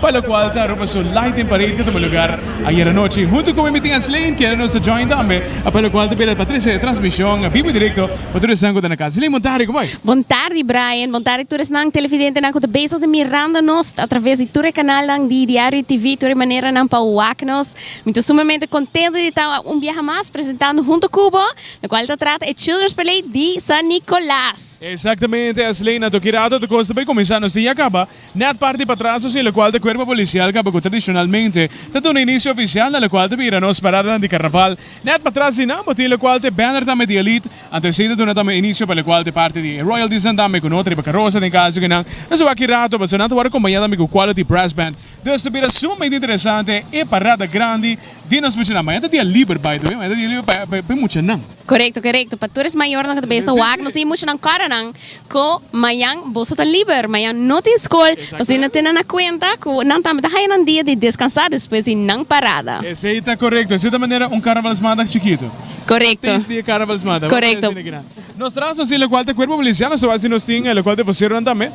Pa lokual ta Aruba su Light den Parade ta tuma lugar ayer anochi. Huntu ku Meeting and Slaying keda nos ta join tambe, pa lokual ta bida pa trese transmishon bibo y direkto pa tur esnan ku ta na kas. Slaying bon tardi, kumai. Bon tardi Brian, bon tardi tur esnan televidentenan ku ta bezig di mirando nos a traves di tur e kanalnan di Diario TV, tur e maneranan pa wak nos. Mi ta sumamente kontento di ta un biaha mas presentando huntu ku bo, lokual ta trata e Children's Parade di San Nicolas. Exactamente, Slaying a toki rato, tur kos ta bai kuminsá, nos tin ya kaba. Nèt parti patras nos tin lokual di Kuerpo Polisial kaba ku tradishonalmente ta duna inisio ofisial na lokual ta bira nos paradanan di Karnaval. Nèt patras di nan bo tin lokual ta e bèner tambe di Elite. Anto esei ta duna tambe inisio pa lokual ta e parti di e Royaltiesnan tambe ku no ta riba karosa den kaso ku nan no sa wak rato pasobra nan ta wòrdu kompañá tambe ku Quality Brass Band. Dus ta bira sumamente interesante e parada grandi di nos muchanan. Mañana ta dia liber, by the way. Mañana ta dia liber pa e muchanan. Korekto korekto pa tur es mayornan ku ta bes ta wak nos tin mucha nan kòrda nan ku mayan boso ta liber mayan no tin skol pasobra no tene na kuenta ku nan tambe ta haya nan dia di deskansá despues di nan parada. Esei ta korekto esei ta manera un karnavalsmandag chikitu Korekto antes di e karnavalsmandag korekto nos traha nos tin lokual ta kuerpo milisiano so basi nos tin e lokual de voseronan tambe.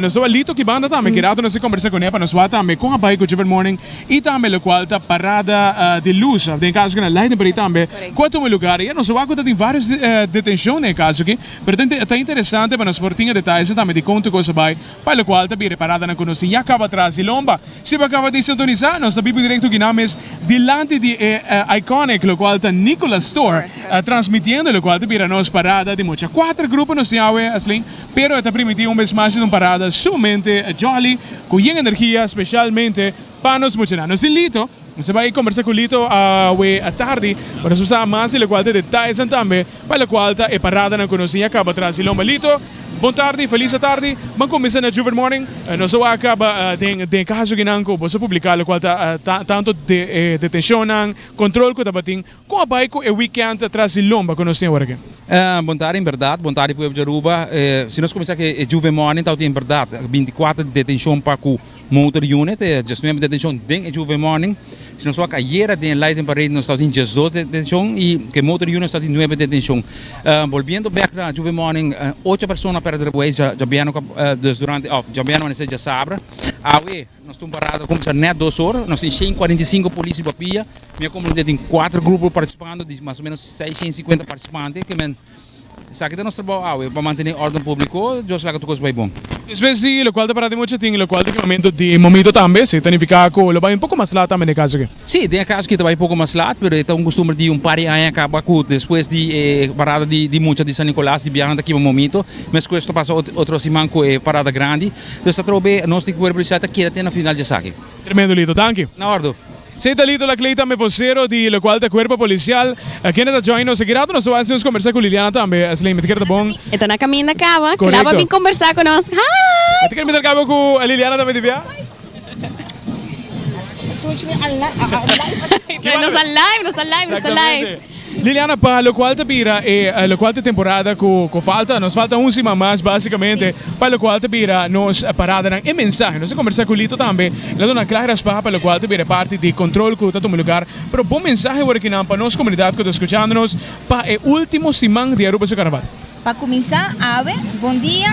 Nos tabatin Lito Kibanda tambe ki rato nos a kombersá kuné pa nos wak tambe kon a bai ku Juffer Morning i tambe lokual ta Parada di Lus den kaso ku na lei den por ei tambe ku a tuma lugar. Ya nos a wak ku ta tin vários detenshon den e kaso aki pero ta interesante pa nos por tin e detayesnan tambe di kon tur kos a bai pa lokual ta bira paradanan ku nos tin ya kaba tras di lomba. Si bo a kaba di sintonisá nos ta biba direkto kina mes dilanti di e Iconic lokual ta Nicholas Store transmitiendo lokual ta bira nos Parada di Mocha. Kuater grupo nos tin awe Aslin. Pero e ta primiti un bes mas di un parada sumamente jòli, ku yen energia, spesialmente pa nos muchanan. Nos tin Lito, nos a bai kombersá ku Lito awe atardi pa nos sa mas di lokual ta e detaisnan tambe pa lokual ta e paradanan ku nos tin ya kaba tras di lomba. Lito, bon tardi, felis atardi, ban kuminsa na Juver Morning. Nos a wak kaba den den kaso kinan ku boso publiká lokual ta tanto de e detenshonnan, kontrol ku tabatin Kon a bai ku e weekend atras di lomba ku nos tin awor aki? Bon tarde en berdad bon tarde pueblo di Aruba si nos kuminsá ku e Juve Morning ta en berdad bintikwatro di detenshon pa ku motor unit e diasnuebe detenshon den e Juve Morning si nos wak ayera den e Light en Parade nos ta in diasdos detenshon i ku e motor unit nos ta in nuebe detenshon bolbiendo bek na Juve Morning ocho persona pèrdè de buey djabièn djabèn amanese djasabra awe Nos tin un parada ta cuminsa net dos ora. Nos tin shen i cuarenta i sinku policia di papia. Mi a comprende tin cuatro grupo participando di mas o menos seis shen i cincuenta participante. Ke men esaki ta nos trabao awe pa mantene orden publico. Dios laga tur cos bai bon. Despues di locual ta para di mucha tin locual di filmamento di momito tambe. Si ta nifica cu lo bai un poco mas laat tambe na e caso aki. Sí, tin e kaso ki ta bai poko mas lat, pero e ta un kustumber di un par di aña kaba ku despues di e parada di mucha di San Nikolas di biahanan ta kiba momito, meskos ta pasa otro siman ku e parada grandi. Pues ta trobe e nos tin kuerpo polisial ta keda te na final di esaki. Tremendo Lito, danki. Na ordu. Esei ta Lito Lacleyton me vocero di lokual ta kuerpo polisial. Kende ta join nos aki rato nos ta wak hasi ons kombersá ku Liliana tambe. Slayman, ta keda ta bon. E ta na kaminda kaba, kila bo a bin kombersá ku nos. Hi! Ta keda minder kaba ku Liliana tambe di bia? Liliana, pa lokual ta bira e lokual ta temporada ku falta, nos falta un siman mas basikamente pa lokual ta bira nos paradanan. E mensahe, nos a kombersá ku Lito tambe, el a duna kla respal pa lokual ta bira e parti di kontrol ku ta tuma lugar. Pero bon mensahe wòrdu kinan pa nos komunidat ku ta skuchando nos pa e último siman di Aruba su karnaval? Pa kuminsá, awe, bondia,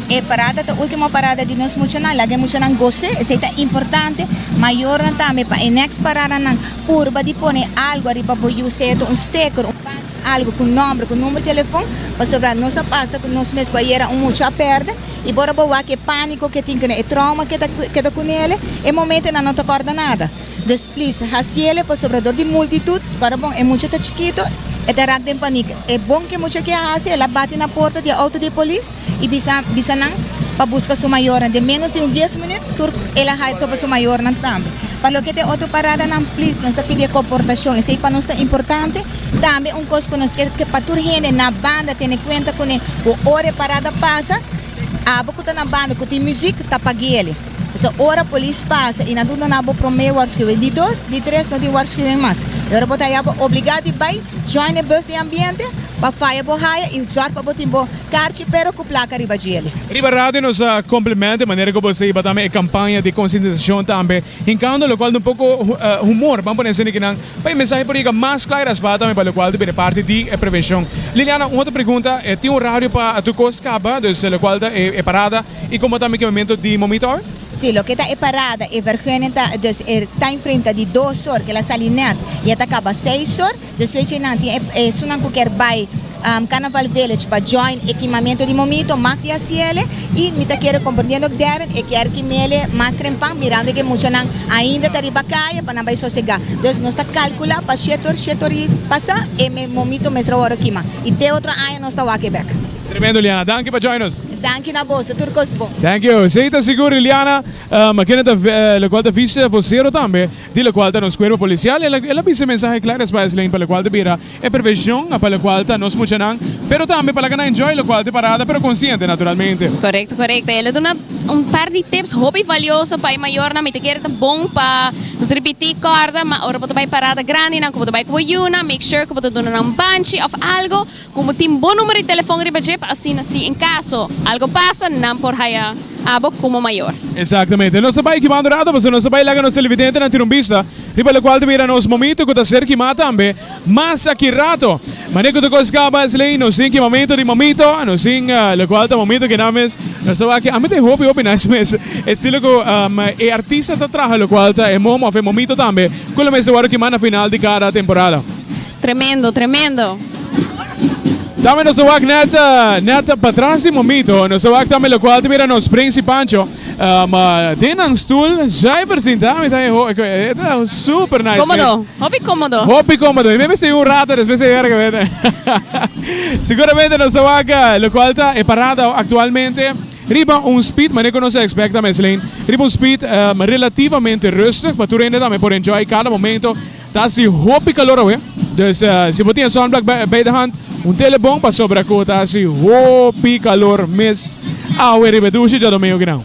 e parada ta último parada di nos muchanan. Laga e muchanan gos'é, esei ta importante. Mayornan tambe, pa e next paradanan, purba di pone algu ariba bo yu, seto un steker, un badge, algu ku nòmber, ku number telefòn, pasobra nos a pasa ku nos mes ku ayera un mucha a pèrdè, i bor a bo wak e pániko ku e tin, e trauma ku e ta keda ku nele, e momentonan no ta kòrda nada. Des please haciele pasobra dor di multitud ora bon e mucha ta chikito e ta raak den paniek e bon ke mucha kia haci el a bati na porta di e auto di polis y bisa bisa nan pa busca su mayornan den menos di un dies minut tur el a hae topa su mayornan tambe pa loke ta e otro parada nan please nos ta pidi e coportacion esey pa nos ta importante tambe un cos cu nos kier ke pa tur hende na banda tene cuenta cune cu ora e parada pasa abo cu ta na banda cu tin music ta paguele. P'esei ora polis pasa i nan duna nan bo promé warschuwing di dos, di tres no tin warschuwing mas. E ora bo ta haya bo obligá di bai join e bus di ambiente pa faya bo haya i sòrt pa bo tin bo karchi pero ku plaka riba djeli. Riba radio nos a complement e manera ku bo esei bata me e kampaña di konsientisashon tambe hinkando lokual den un poko humor ban pone esei di kinan pa e mensahe por yega mas klair as bata me pa lokual ta bini parti di e prevenshon. Liliana un otro pregunta tin un radio pa Tukos kaba, dus lokual ta e parada. Y como ta mekemento di momitor? Sí, loke ta e parada, e vergunning ta, dus e timeframe ta di dos or, kila sali net, y e ta kaba seis or, dus fecha eynan tin e esunnan cu kier bay Carnaval Village pa join e kimamento di momito, mag di haciele, y mi ta kere, comprendiendo ook Darren, e kier kimele mas trempan, mirando ke muchanan ainda ta riba calle pa nan bay sosega. Dus nos ta calcula pa shete or, shete or y pasa, e momito mesra worde kima, y te otro aña nos ta wak e bek. Tremendo Liana, danki pa join nos. Danki na boso, tur kos bon. Thank you. Esey ta sigur di Liana, ma kende ta lokual ta vise vocero tambe di lokual ta nos cuerpo policial el a el a bisa e mensahe kla despues eslen pa lokual ta bira e prevencion pa lokual ta nos muchanan pero tambe pa laga nan enjoy lokual ta e parada pero consciente naturalmente. Correcto correcto el a duna un par di tips hopi valioso pa e mayornan mi ta kere ta bon pa nos repeti corda ma ora bo ta bay parada grandinan cu bo ta bay cu bo yunan make sure cu bo ta duna nan banchi of algo Komo tin bo numero di telefon riba dje pa asina si en kaso algo pasa nan por haya abo komo mayor. Exactamente. Nos ta bai kimando rato pasobra nos ta bai laga nos televidentenan tin un bista riba locual ta mira nos momito cu ta ser kima tambe mas aki rato. Manera cu ta cos caba es ley nos tin ki momento di momito nos tin locual ta momento kinan mes nos ta wak ami ta e hopi hopi nice mes estilo cu e artista ta traha locual ta e mom of e momito tambe cu lo mes ta wor kima na final di cada temporada. Tremendo, tremendo. Tambe nos ta wak net net patras di momito. Nos ta wak tambe lokual ta bira nos Prins i Pancho. Ma den nan stul dja e presenta mi ta e ho e ta un super nice mes. Komodo, hopi komodo. Hopi komodo. Mi mester yu un rato despues di e werk a bira. Seguramente nos ta wak lokual ta e parada aktualmente riba un speed manera ku nos ta ekspekta mes Leen. Riba un speed relativamente rustig pa tur hende tambe por enjoy kada momento. Ta hasi hopi kalor awe, dus si bo tin e sunblock bay de hand, un tele bon pasobra ku ta hasi hopi kalor mes awe riba e dushi djadomingu kinan.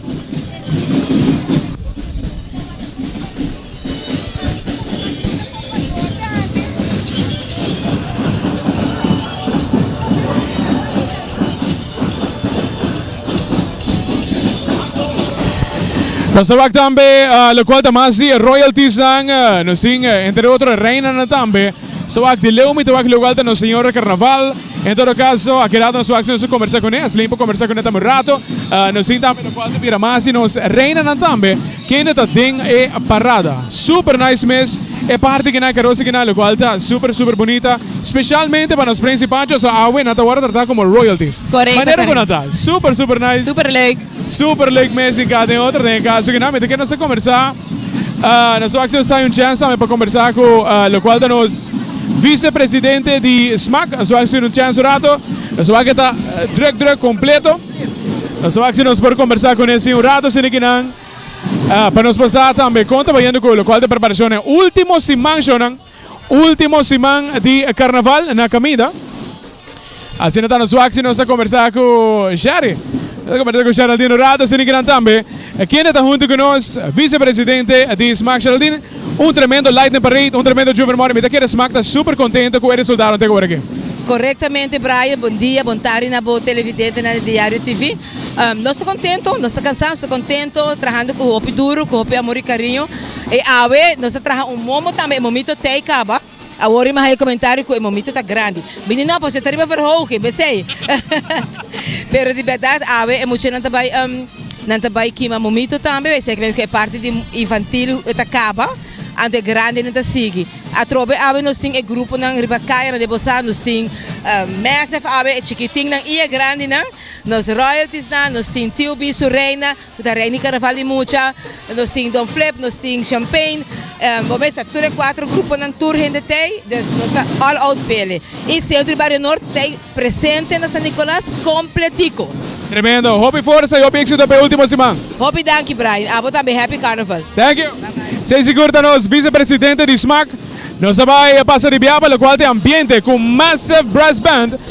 Nos ta wak tambe lokual ta mas di e royaltiesnan. Nos tin, entre otro, e reinannan tambe. Nos ta wak di Leo, mi ta wak lokual ta nos señora Karnaval. En todo kaso, a keda nos wak si nos a kombersá kuné? Esei por kombersá kuné tambe un rato. Nos tin tambe lokual ta bira mas di nos reinanan tambe. Kende ta den e parada. Super nice mes e parti kinan carosa kinan lo cual ta super super bonita specialmente pa nos Prensi Pancho so awe nan ta worde trata como royalties Correcto manera cu nan ta correcto. super super nice Super leuk. super leuk mes y cada den otro den e caso kinan mi ta kere nos ta conversa ah nos wak si nos ta hay un chance tambe pa conversa cu ah lo cual ta nos vice presidente di smaak nos wak si un chance un rato nos wak e ta druk druk completo. Nos ta wak si nos por kombersá ku nesei un rato si nikinan pa nos por sa tambe kon ta bayendo ku lokual di preparashon e último simanshonnan, último siman di karnaval na kaminda. Asina ta nos wak si nos ta kombersá ku Sherry. Nos ta kombersá ku Sheraldin un rato si nikinan tambe. Kende ta huntu ku nos? Visepresidente di Smaak Sheraldin. Un tremendo Lightning Parade, un tremendo Juven Morning. Mi ta kere smak ta super contento cu e resultado teg ora aki. Correctamente Brian, bon dia, bon tardi na bo televidentenan di Diario TV. Nos ta contento, nos ta cansa, nos ta contento, trahando cu hopi duro, cu hopi amor y cariño. E awe nos a traha un momo tambe, e momito tey caba. Awor i maha e komentario ku e momito ta grandi. Bini no, pastor e ta riba verhoge, besei. Pero di bèdad awe e muchanan ta bai um nan ta bai kima momito tambe, esei ke mester ku e parti di infantil e ta kaba, anto e grandenen ta sigui. Atrobe awe nos tin e gruponan riba kayanan den Bosal, nos tin um Massive awe, e chikitinnan i e grandinan, nos Royaltiesnan, nos tin TOB su Reina. Cu ta reina e carnaval di mucha. Nos tin Don Flip, nos tin Champain. Bo mes sa tur e cuatro gruponan tur hende t'ey. Dus nos ta all out bele. Y Centro y Barrio Noord t'ey presente na San Nicolas completico. Tremendo. Hopi forsa y hopi exito p'e ultimo siman. Hopi danki Brian. Abo tambe happy carnaval. Thank you. Sey sigur ta nos vice presidente di smaak. Nos ta bay pasa di biaba locual t'e ambiente cu massive brass band.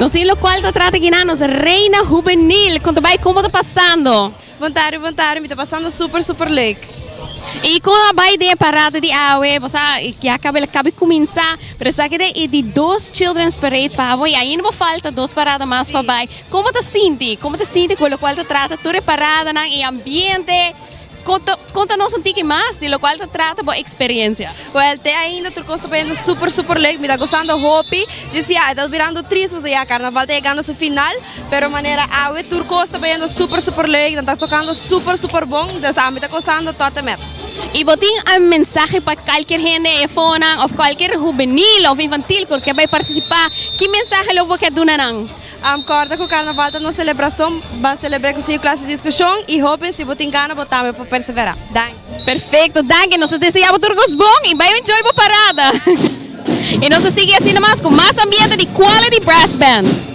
Nos tin lo cual retrata gina nos reina juvenil. Conta bay como está pasando. Bontari, bontari, mi está pasando super, super leuk. Y como a bay de parada de awe, bosa ya cabe la cabe cuminsa, pero sa que de e di dos children's parade pabo y ainda bo falta dos parada mas pa bay. Kon bo ta sinti? Kon bo ta sinti ku lokual ta trata tur e paradanan, e ambiente? Konta, konta nos un tiki mas di lokual ta trata bo eksperiensia. Wèl, te ainda tur kos ta poniendo super, super leuk. Mi ta gosando hopi. Dje si ya e ta birando tris pasobra ya karnaval ta yegando su final. Pero manera awe tur kos ta poniendo super, super leuk. Nan ta tokando super, super bon. Entonces ami ta gosando tòt en mèt. I bo tin algun mensahe pa kalkier hende, e efonan òf kalkier hubenil òf infantil ku ke bai partisipá? Ki mensahe lo bo ke duna nan? Corda cu Carnaval ta nos celebracion, ba celebre cu cinco clase di discusion y hopen si bo tin gana bo tambe por persevera. Danki. Perfecto, danki, nos ta desea bo tur cos bon y bay enjoy bo parada. Y nos ta sigui así namas cu mas ambiente di Quality Brass Band.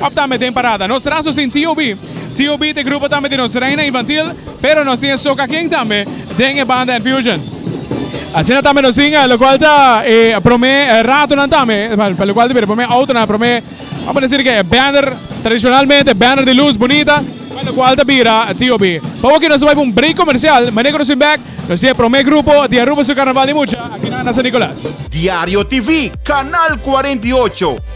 òf tambe den parada. Nos traso sin TOB. TOB ta e grupo tambe di nos Reina Infantil, pero nos tin e Soca King tambe den e banda Enfusion. Asina tambe nos tin lokual ta e promé ratonan tambe, pa lokual ta bira e promé outonan, e promé, amo a desir ke e banner, tradishonalmente e banner di lus bunita, pa lokual ta bira TOB. Pa awor ke nos ta bai pa un break komersial, manera ku nos bin bèk, nos tin e promé grupo di Aruba su Karnaval di Mucha, aki na San Nikolas. Diario TV, Kanal kuarenta i ocho.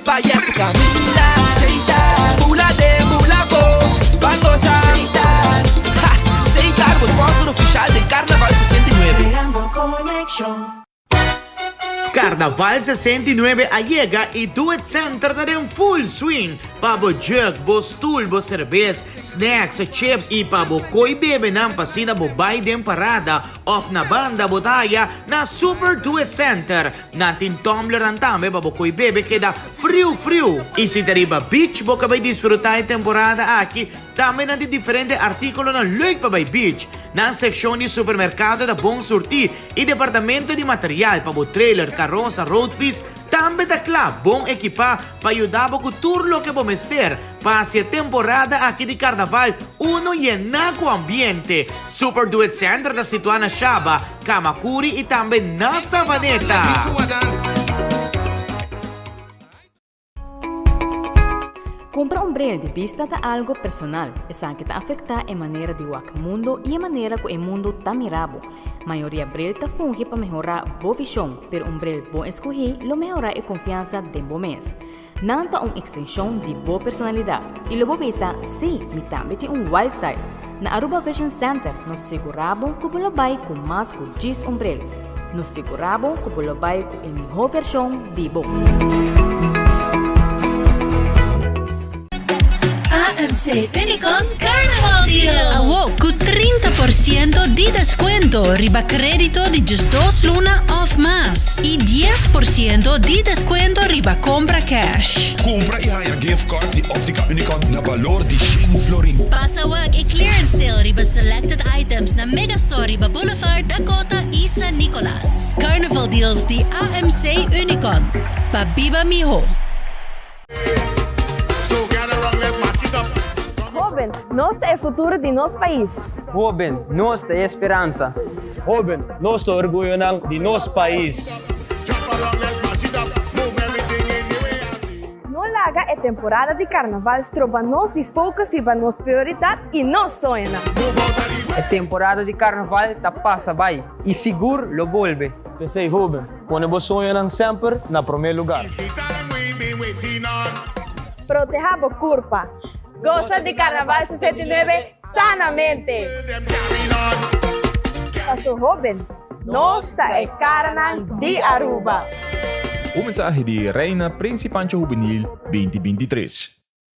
Paya tu caminda Seitar Bula de bula bo Ban goza Seitar Ha! Seitar bo sponsor oficial den Carnaval sesenta i nuebe. Creando conexion. Carnaval sesenta i nuebe a yega y Do It Center ta den full swing pa bo jug, bo stoel, bo cervez, snacks, chips y pa bo coy bebenan pa asina bo bay den parada of na banda bo ta haya na Super Do It Center. Nan tin tumblernan tambe pa bo koe bebe keda friu friu. I si ta riba beach bo ka bai disfruta e temporada aki, tambe nan tin diferente artíkulonan leuk pa bai beach. Nan sekshon di supermerkado ta bon surtí i departamento di material pa bo trailer, karosa, road fiets tambe ta kla bon ekipá pa yuda bo ku tur loke bo mester pa hasi e temporada aki di karnaval uno yená ku ambiente. Super Duet Center ta situá na Shaba. Kamakuri i tambe na Savaneta. Kumpra un bril di bista ta algu personal. Esaki ta afektá e manera di wak mundu i e manera ku e mundu ta mira bo. Mayoria bril ta fungi pa mehorá bo vishon, pero un bril bon eskohí lo mehorá e konfiansa den bo mes. Nan ta un ekstenshon di bo personalidat i lo bo bisa, Sí, mi tambe tin un wild side! Na Aruba Vision Center nos segurá bo ku bo lo bai ku mas ku dies ombrel. Nos segurá bo ku bo lo bai ku e mihó vershon di bo. AMC Unicon Carnival Deal. Awo cu trinta por ciento di descuento riba credito di djis dos luna of mas y dies por ciento di descuento riba compra cash. Cumpra y haya gift cards di Optica Unicon na balor di shen florin. Pasa wak e clearance sale riba selected items na Mega Store riba Boulevard, Dakota y San Nicolas. Carnival Deals di AMC Unicon, pa biba miho. Hoben, nos ta e futuro di nos pais. Hoben, nos ta e speransa. Hoben, nos ta orguyonan di nos pais. No laga e temporada di Carnaval stroba nos di focus riba nos prioridad y nos soñonan. E temporada di Carnaval ta pasa bay y sigur lo bolbe. P'esey hoben, Pone bo soñonan semper na promé lugar. Proteha bo kurpa. Gosa di Karnaval sesenta i nuebe sanamente! Paso hoben, nos ta e karanan di Aruba! Un mensahe di Reina Principancho Juvenil binti binti tres.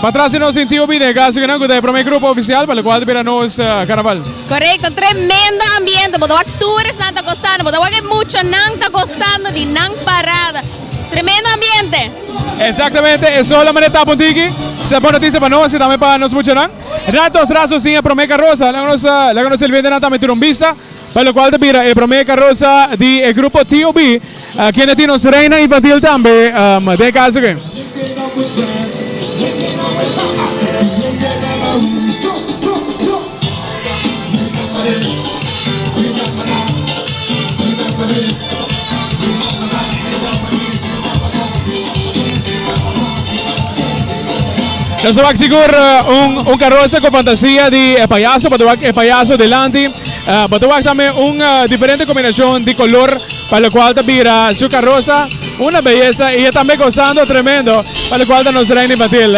Patras di nos sintí obi den e kasokinan ku ta e promé grupo ofisial pa lokual ta bira nos karnaval. Korekto, tremendo ambiente, bo ta wak tur esnan ta gosando, bo ta wak e muchanan ta gosando di nan parada. Tremendo ambiente! Exactamente, e sol a mane tap un tiki, sa bon noticia pa nos y tambe pa nos muchanan. Rat nos traso sin e prome carroza, laga nos laga nos televidentenan tambe tur un bista pa locual ta bira e prome carroza di e grupo TOB. Kende tin nos reinan infantil tambe den e kaso ke? Nos a wak sigur un karosa ku fantasia di e payaso. Bo ta wak e payaso delanti. Bo ta wak tambe un diferente kombinashon di kolor. pa lokual ta bira su karosa una beyesa i e tambe gosando tremendo pa lokual ta nos reina infantil.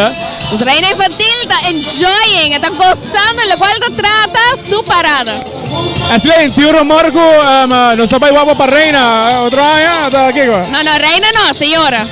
Nos reina infantil ta enjoying, e ta gosando lokual ta trata su parada. Ashley, tin un rumor ku nos ta bai wak bo pa reina otro aña, ata kiko? No, no, reina no, señora.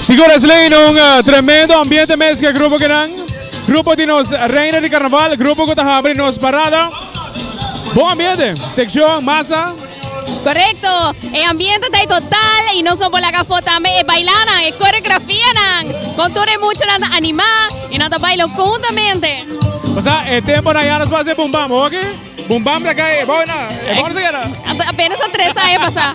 Sigores Lane, un uh, tremendo ambiente mes que grupo que nan. Grupo de nos reina de carnaval, grupo que está nos parada. Bom ambiente, sección, massa. Correcto, e ambiente ta total y nos no por laga fo tambe e bailanan, e coreografianan con tur e muchanan ta anima y nan ta baila juntamente. Osea e temponan a yanas pasa e Boom Bam oke, Boom Bam ta cay ebao na e bor ta keda. Apenas ta tres aña pasa.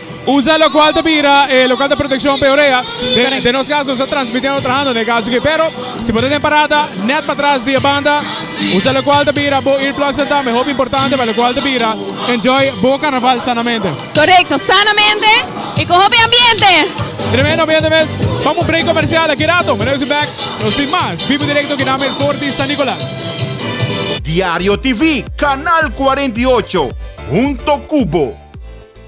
Usa lo cual ta bira e local ta proteccion pa e orea. Den nos caso nos ta transmiti ando trahando n'e caso aki. Pero si bo ta den parada net patras di e banda usa lo cual ta bira bo earplugs nan tambe hopi importante pa lo cual ta bira enjoy bo carnaval sanamente. Correcto, sanamente y cu hopi ambiente. Tremendo ambiente mes. Vamo un break comercial aki rato. Mira nos back nos tin mas vivo y directo aki na mes Norte di San Nicolas. Diario TV, Canal cuarenta y ocho, hunto cu bo.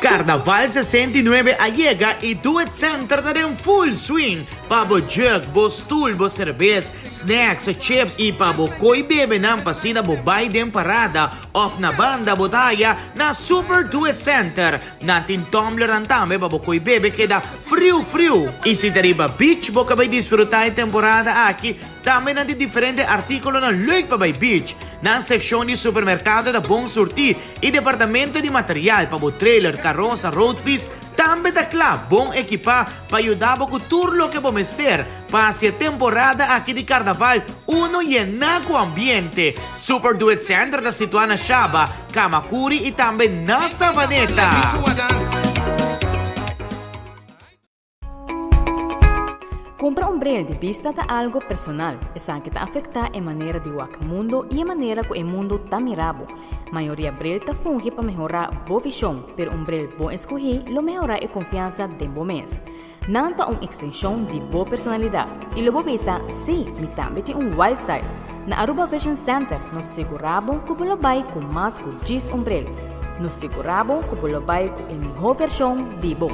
Karnaval sesenta i nuebe a yega i Do It Center ta den full swing pa bo jurk, bo stoel, bo serbes, snacks, chips i pa bo koi bebenan pa asina bo bai den parada òf na banda bo ta haya na Super Do It Center. Nan tin tumblernan tambe pa bo koe bebe keda friu friu. I si ta riba beach bo ka bai disfruta e temporada aki, tambe nan tin diferente artíkulonan leuk pa bai beach. Nan sekshon di supermerkado ta bon surtí i departamento di material pa bo trailer, karosa, road piss tambe ta kla bon ekipá pa yuda bo ku tur loke bo mester pa hasi e temporada aki di karnaval uno yená ku ambiente. Super Duet Center ta situá na Shaba. Kamakuri i tambe na Savaneta. Kumpra un bril di bista ta algu personal. Esaki ta afektá e manera di wak mundu i e manera ku e mundu ta mira bo. Mayoria bril ta fungi pa mehorá bo vishon, pero un bril bon eskuhí lo mehorá e konfiansa den bo mes. Nan ta un ekstenshon di bo personalidat i lo bo bisa, Sí, mi tambe tin un wild side! Na Aruba Vision Center nos segurá bo ku bo lo bai ku mas ku dies ombrel. Nos segurá bo ku bo lo bai ku e mihó vershon di bo.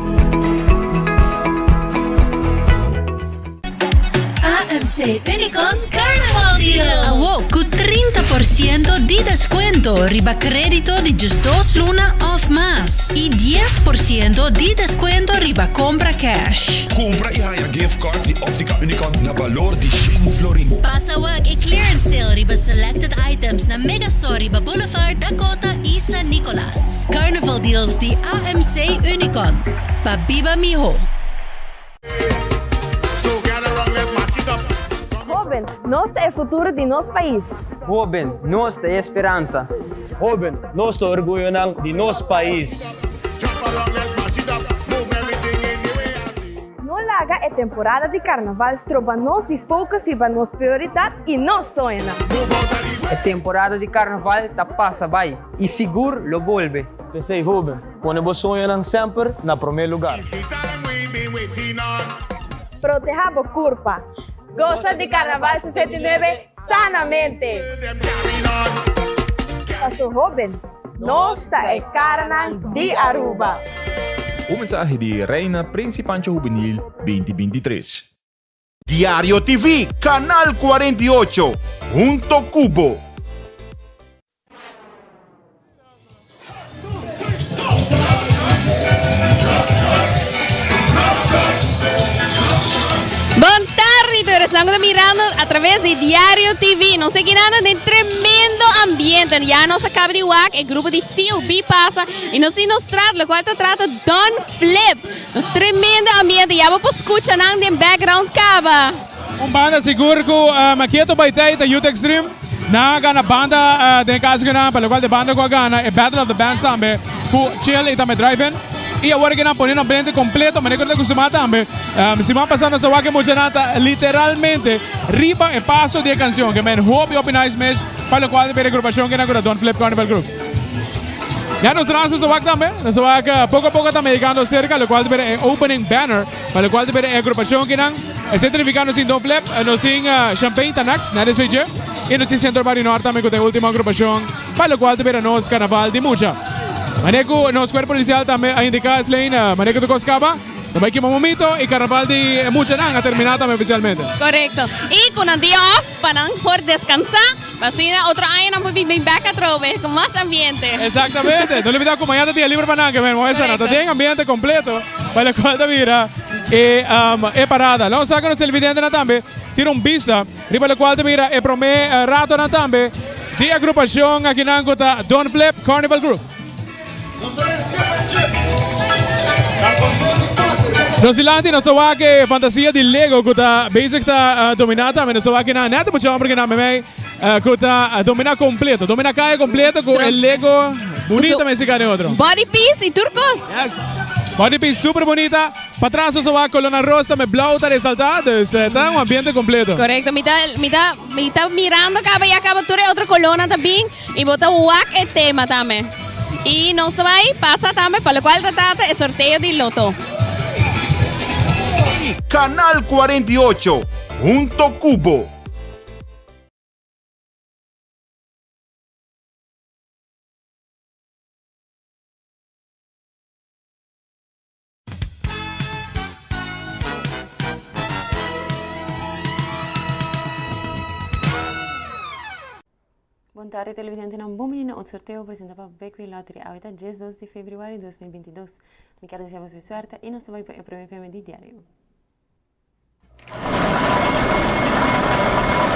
AMC Unicon Carnaval Deal. Awo cu trinta por ciento di descuento riba credito di djis dos luna of mas y dies por ciento di descuento riba compra cash. Compra y haya gift cards di Optica Unicon na balor di shen florin. Pasa wak e clearance sale riba selected items na Mega Store riba Boulevard, Dakota y San Nicolas. Carnaval Deals di AMC Unicon, pa biba miho. Hoben, nos ta e futuro di nos pais. Hoben, nos ta e speransa. Hoben, nos ta orguyonan di nos pais. No laga e temporada di carnaval stroba nos di focus riba nos prioridad y nos soñonan. E temporada di carnaval ta pasa bay y sigur lo bolbe. P'esey hoben, Pone bo soñonan semper na promé lugar. Proteha bo kurpa. Gosa di Karnaval sesenta i nuebe sanamente! Pa su hóben, nos ta e karanan di Aruba. Un mensahe di Reina Principancho Juvenil binti binti tres. Diario TV, Canal cuarenta y ocho, hunto cu bo. Esnan ta mirando a través de Diario TV. Nos está quedando en tremendo ambiente. Ya nos acaba de WAC, el grupo de TOB pasa y nos tiene nos trata, lo cual te trata Don Flip. Tremendo ambiente ya bo por scucha nan den background caba. Un banda sigur cu Maketo bay tey ta Youth Extreme. Nan a gana banda den casagunan pa locual de banda cu a gana e Battle of the Bands tambe cu Chill y tambe Drive In. Y awor que nan pone no brente completo mane cu ta cu Sima tambe. Sima pasa nos a wak e muchanan ta literalmente riba e paso di e cancion. Ke men hopi hopi nice mes pa locual de Pere Grupacion kinan cu ta Don Flip Carnival Group. Ya nos raza ta wak tambe, nos ta wak poko a poko ta mehekando serka lokual ta bira e opening banner pa lokual ta bira e agrupashon kinan e sentrifiká nos tin Don Flep, nos tin Champain ta nèks na despues dje i nos tin Sentro Bario Nòrt tambe ku ta e último agrupashon pa lokual ta bira nos Karnaval di Mucha. Manera ku nos kuerp polisial tambe a indiká Eslein manera ku ta kos kaba ta bai kima momito i Karnaval di Muchanan a terminá tambe ofisialmente. Korekto. I ku nan dia òf pa nan por deskansá. Asina otro aña nan por bin bin bek atrobe cu mas ambiente. Exactamente. No libida cu maña ta dia liber pa nan, Carmen. Mooi sa nan ta den ambiente completo pa locual ta bira e parada. Lo sa cu nos televidentenan tambe tin un bista riba locual ta bira e prome ratonan tambe di e grupacion akinan cu ta Don Flip Carnival Group. Nos di lanti nos ta wak e fantasia di Lego ku ta bezig ta dominá tambe. Nos ta wak kinan nèt mucha hòmber kinan mei ku ta dominá kompleto. Dominá kaya kompleto ku e Lego bunita mei siká den otro. Body piece i tur kos. Yes. Body piece super bunita. Patras nos ta wak kolornan ros tambe blau ta resaltá. Dus ta un ambiente kompleto. Korekto. Mi ta mi ta mirando kaba ya kaba tur e otro kolornan ta bin. Y bo ta wak e tema tambe. Y nos ta bay pasa tambe pa locual ta tata e sorteo di loto. Canal 48, hunto cu bo. Bon tarde televidentenan, bon bini na otro sorteo presenta pa Betway Lottery. Awe ta dies dos di februari dos mil binti dos. Mi kier desea boso e suerte y nos ta bay pa e prome preme di diario.